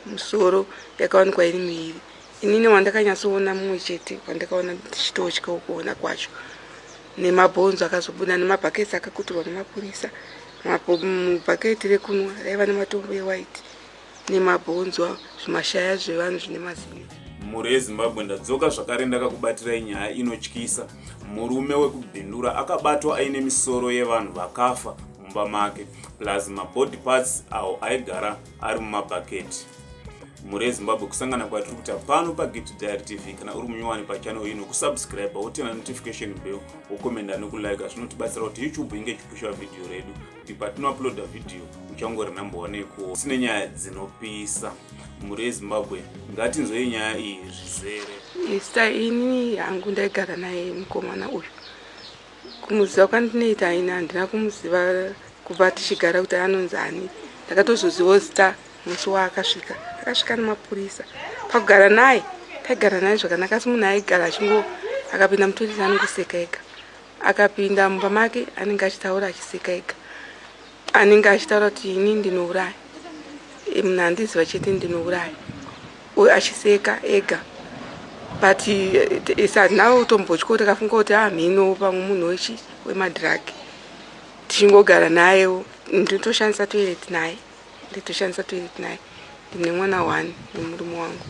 musoro yakawanikwa iri miiri inini wandakanyatsoona mumwe chete wandakaona ndichitotya ukuona kwacho nemabhonzo akazobuda nemabhaketi akakuturwa nemapurisa mubhaketi rekunwa raiva nematombo ewhite nemabhonzo zvimashaya zvevanhu zvine mazino mhuri yezimbabwe ndadzoka zvakare ndakakubatirai nyaya inotyisa murume wekubhindura akabatwa aine misoro yevanhu vakafa mumba make plus mabody parts awo aigara ari mumabhaketi mhuri yezimbabwe kusangana kwatiri kuita pano pagift diary tv kana uri munyowani pachannel ino kusubscribe wotena notification bell wokomenda nokulike zvinotibatsira kuti youtube inge ichipusha vhidhiyo redu kuti patinouploada vhidhiyo uchangori number one yekuo sine nyaya dzinopisa mhuri yezimbabwe ngatinzwei nyaya iyi zvizere ista ini hangu ndaigara naye mukomana uyu kumuziva kwandinoita aine handina kumuziva kubva tichigara kuti anonzi ani ndakatozozivawo zita musi waakasvika akasvika nemapurisa pakugara naye taigara naye zvakanaka asi munhu aigara achingo akapinda mutoilet anongoseka ega akapinda mumba make anenge achitaura achiseka ega anenge achitaura kuti ini ndinouraya munhu andiziva chete ndinouraya uyo achiseka ega but eh, sadna utombotya kuti akafunga kuti amhino ah, pamwe munhu wechi wemadrug tichingogara nayewo nditoshandisa toilet naye nditoshandisa toilet naye ndine mwana one nemurume wangu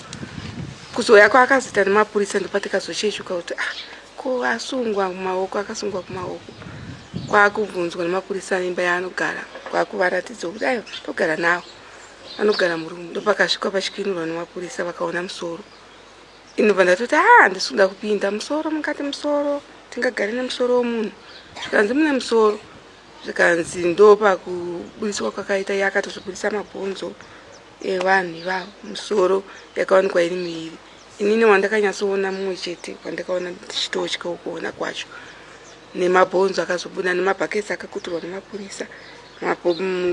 kuzouya kwaakazita nemapurisa ndopatikazochechuka kuti ah ko asungwa kumaoko akasungwa kumaoko kwaakubvunzwa nemapurisa aimba yaanogara kwaakuvararidza kuti ayo togara nawo anogara murumu ndopakasvikwa pachikinurwa nemapurisa vakaona musoro inobva ndatoti ha ah, ndisuda kupinda musoro mukati musoro tingagari nemusoro womunhu zvikanzi mune musoro zvikanzi ndopakubudiswa kwakaita iye akatozvibudisa mabhonzo evanhu ivavo musoro yakawanikwa iri miiri inini wandakanyatsoona mumwe chete wandakaona ndichitotyawo kuona kwacho nemabhonzo akazobuda nemabhaketi akakuturwa nemapurisa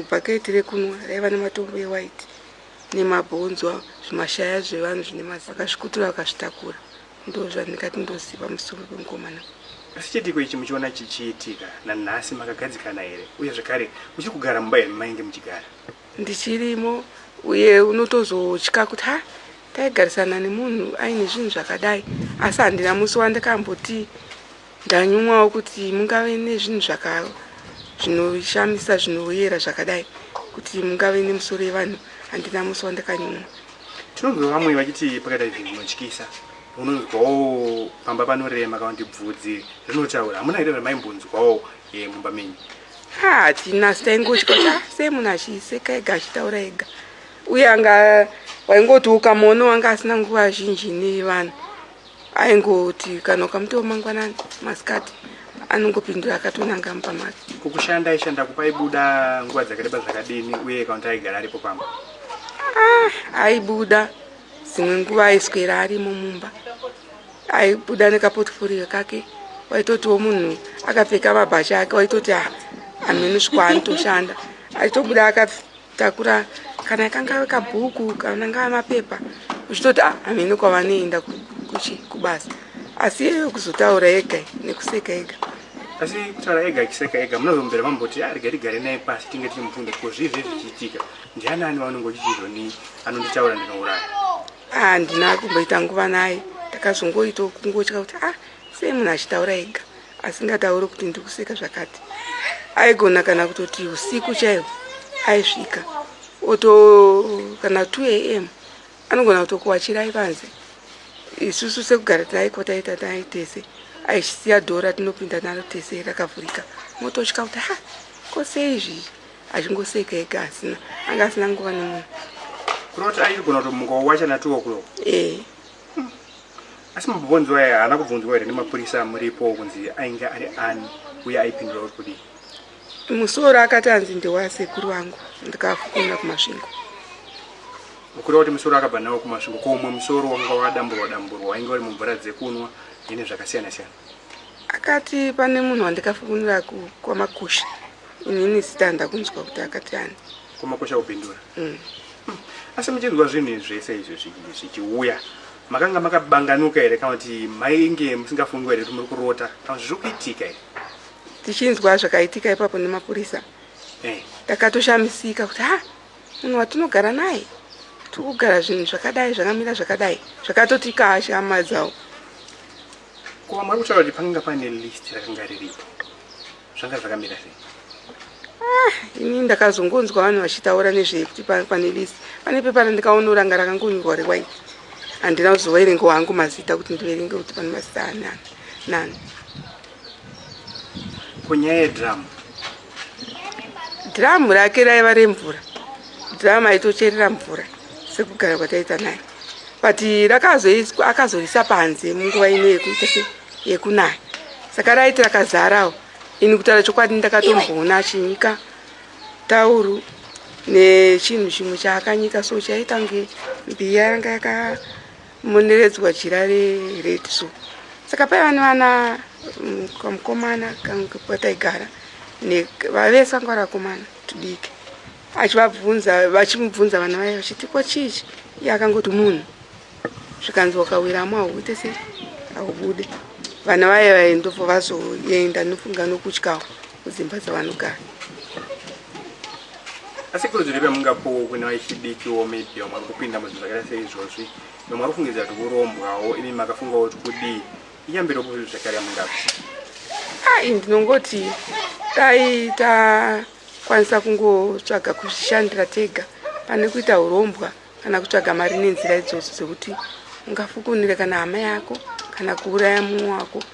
bhaketi rekunwa raiva nematombo ewaiti nemabhonzo avo zvimashaya zvevanhu zvine mazi vakazvikutura vakazvitakura ndozvandingati ndoziva musoro pemukomana asi chiitiko ichi muchiona chichiitika nanhasi makagadzikana here uye zvekare muchiri kugara mumba here mainge muchigara ndichirimo uye unotozotya kuti ha taigarisana nemunhu aine zvinhu zvakadai asi handina musi wandakamboti Ndanyumwawo kuti mungave nezvinhu zvaka zvinoshamisa zvinoyera zvakadai kuti mungave nemusoro yevanhu handina musi wandakanyumwa. Tinonzwa vamwe vachiti pakaita izvi zvinotyisa unonzwawo pamba panorema kana kuti bvudzi rinotaura hamuna here ramaimbonzwawo eh, mumba menyu hatina sitaingotyota sei munhu achiseka ega achitaura ega uye anga waingoti ukamuona wanga asina nguva zhinji nevanhu aingoti kana ukamutewo mangwanani masikati anongopindura akatonanga mupa mari kukushanda aishanda kupa aibuda nguva dzakareba zvakadini uye kaunti aigara aripo pamba ah, aibuda dzimwe nguva aiswera arimo mumba aibuda nekaportforio kake waitotiwo munhu akapfeka mabhasha ake waitoti ah, amene svikwa anotoshanda aitobuda akapfeka takura kana kangave kabhuku kana ngava mapepa uchitoti ah, hameno kwavanoenda kuchi kubasa asi iyeyo kuzotaura ega nekuseka ega asi kutaura ega achiseka ega munozombera mamboti arege ah, tigare naye pasi tinge tiri mubvunza ko zvii zvee zvichiitika ndiani ani vaunenge uchichizvo ni anonditaura ndinouraya handina ah, kumboita nguva naye takazongoita kungotya kuti ah sei munhu achitaura ega asingataure kuti ndiri kuseka zvakati aigona kana kutoti usiku chaiwo aisvika oto kana 2 am anogona kutokuwachirai panze isusu sekugara taiko taita tai tese aisiya dhora tinopinda naro tese rakavhurika mototya kuti ha kose izvi achingoseka ega asina anga asina nguva nemunhu kuroti aigona kutomuka wachana 2 o'clock ee eh. asi mabhonzo aya haana kubvunzwa here nemapurisa amuripo kunzi ainge ari ani uye aipindura uri kudii musoro akati anzi ndewasekuru wangu ndikafukunira kumasvingo ukureva kuti musoro akabva nawo kumasvingo ko umwe musoro wanga wadamburwa damburwa wainge uri mumvura dzekunwa ine zvakasiyana siyana akati pane munhu wandikafukunira kwamakusha inini zita ndakunzwa kuti akati ani Kumakosha kupindura. Mm. Hmm. Asi muchinzwa zvinhu zvese izvi zvichiuya makanga makabanganuka here kana kuti mainge musingafungwa here kuti muri kurota kana kuti zviri kuitika here? Tichinzwa zvakaitika ipapo nemapurisa. Eh. Takatoshamisika kuti ha munhu watinogara naye tiri kugara zvinhu zvakadai zvakamira zvakadai zvakatoti kasha hama dzawo. Kuva mwari kutaura kuti pakanga pane list rakanga riripo. zvanga zvakamira sei ah, ini ndakazongonzwa vanhu vachitaura nezvei kuti pane list pane pepa randikaona ranga rakangonyorwa rewhite handina kuzoverenga wangu mazita kuti ndiverenge kuti pane mazita anani nani kunyaya yedhiramu dhiramu rake raiva remvura dhiramu aitocherera mvura sekugara kwataita naye but akazoisa panze munguva ino yekuita se yekunaya saka raiti rakazarawo ini kutaura chokwadi ndakatomboona achinyika tauru nechinhu chimwe chaakanyika so chaitange mbiya yanga yakamoneredzwa jira rered so saka paiva nevana mm, kamukomana kataigara vavese vanga vari vakomana tudiki achivabvunza vachimubvunza vana vaye vachiti ko chiichi iye akangoti munhu zvikanzi wakawiramo hauite sei haubude vana vaye vaye ndobva vazoenda nofunga nokutyawo kudzimba dzavanogara asi kurudziro yamungapowo kune vachidikiwo maybe vamwe vari kupinda muzvinhu zvakaita seizvozvi vamwe vari kufungidzira kuti kurombwawo imi makafungawo kuti kudii iyambiro kuzvinhu zvakare yamungapo ai ndinongoti dai takwanisa kungotsvaga kuzvishandira tega pane kuita urombwa ta, kana kutsvaga mari nenzira idzodzo dzekuti ungafukunire kana hama yako kana kuuraya mumwe wako